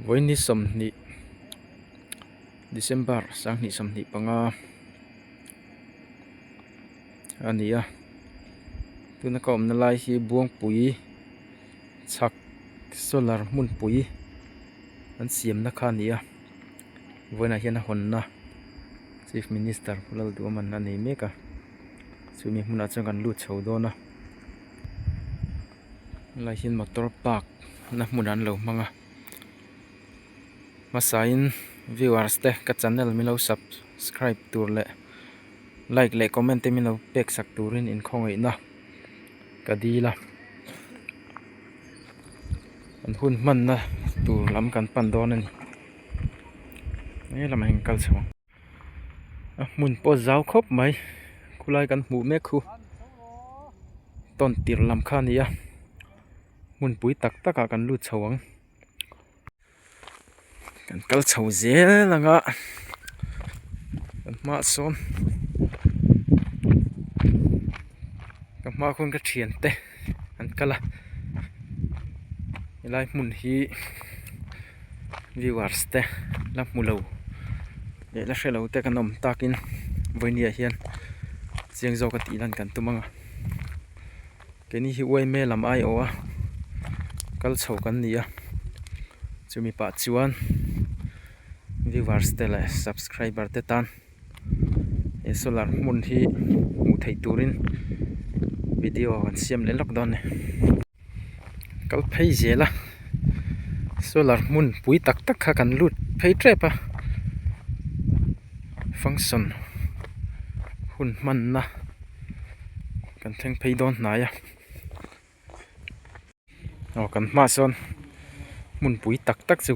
Vawiini sawmhnih December sanghnih sawmhnih panga a ni a tuna ka awmna lai hi Buangpui chhak solar hmunpui an siamna kha a ni a vawiinah hian a hawnna Chief Minister Lalduaman a nei mek a chumi hmunah chuan kan lut chho dawn a. Helai hi motor park na hmun an lo hmang a hmasain viewers te ka channel min lo subscribe tur leh like leh comment te min lo pek sak turin in khawngaihtna ka dil a an hun hmanna tur lam kan pan dawn a ni he lamah hian kal chho ang. a hmun pawh zau khawp mai khulai kan hmuh mek khu tawn tirh lam kha a ni a hmunpui tak tak ah kan lut chho ang kan kal chho zel ang a kan hma ah sawn ka hma khawn ka thian te an kal a helai hmun hi-- viewers te la hmu lo leh la hre lo te kan awm takin vawini ah hian chiang zawk a tih hian kan tum ang a keini hi yma lam ai aw a kal chho kan ni a chu mi pah chuan viewers te leh subscriber te tan-- he solar hmun hi hmuh theih turin video kan siam leh lak dawn ni kal phei zel a solar hmun pui tak tak kha kan lut phei tep a function hun hmanna kan thleng phei dawn hnai a. Aw kan hmaah sawn hmun pui tak tak chu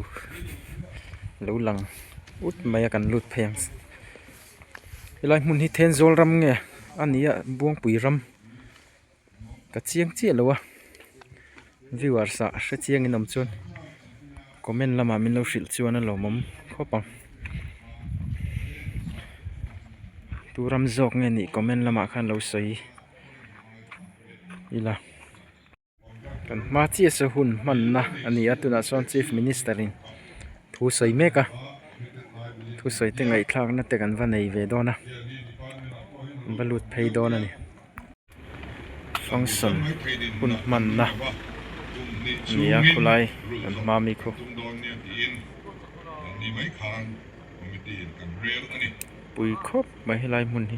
lo lang put mai a kan lut phei ang helai hmun hi thenzawl ram nge a ni a buangpui ram ka chiang chiah lo a viewers ah hre chiang in awm chuan comment lamah min lo hrilh chuan a lawmawm khawp ang tu ram zawk nge nih comment lamah khan lo sawi. ila kan hma chiah se hun hmanna a ni a tunah sawn chief minister in thu sawi mek a thusawi te ngaihthlakna te kan va nei ve dawn a kan va lut phei dawn a ni function hun hmanna a ni a khulai kan hma mi khaw pui khawp mai helai hmun hi.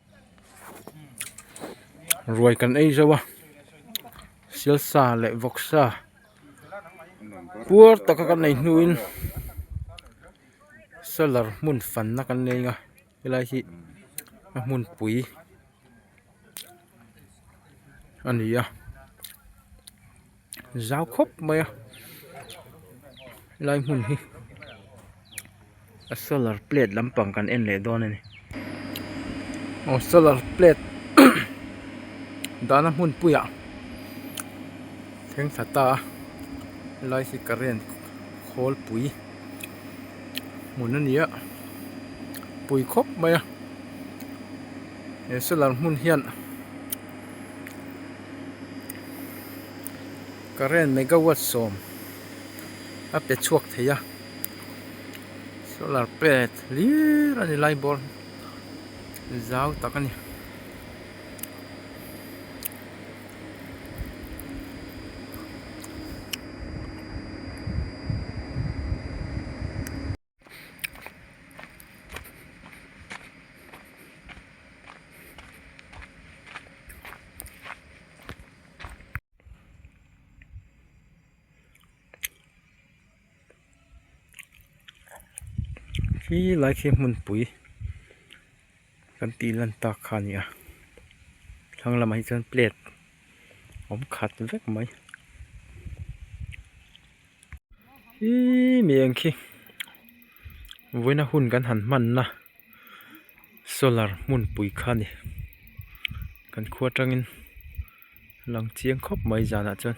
ruai kan ei zauh a sialsa leh vawksa puar taka kan nei hnu in solar hmun fan na kan nei a helai hi a hmunpui a ni a. zau khawp mai a lai hmun hi a solar plate lampang kan en leh dawn a ni aw solar plate dahna hmun puiah thengtha ta lai hi current khawl pui hmun a ni a pui khawp mai a he solar hmun hian-- current megawatt sawm a pe chhuak theih a solar plate hlir a ni light bulb zau tak a ni. khi lai khi hmunpui. Kan tih lantak kha a ni a, thlang lamah hi chuan plate awm khat vek mai iiii mi engkhi vawiina hun kan han hmanna solar hmunpui kha a ni, kan khua tangin a lang chiang khawp mai zanah chuan.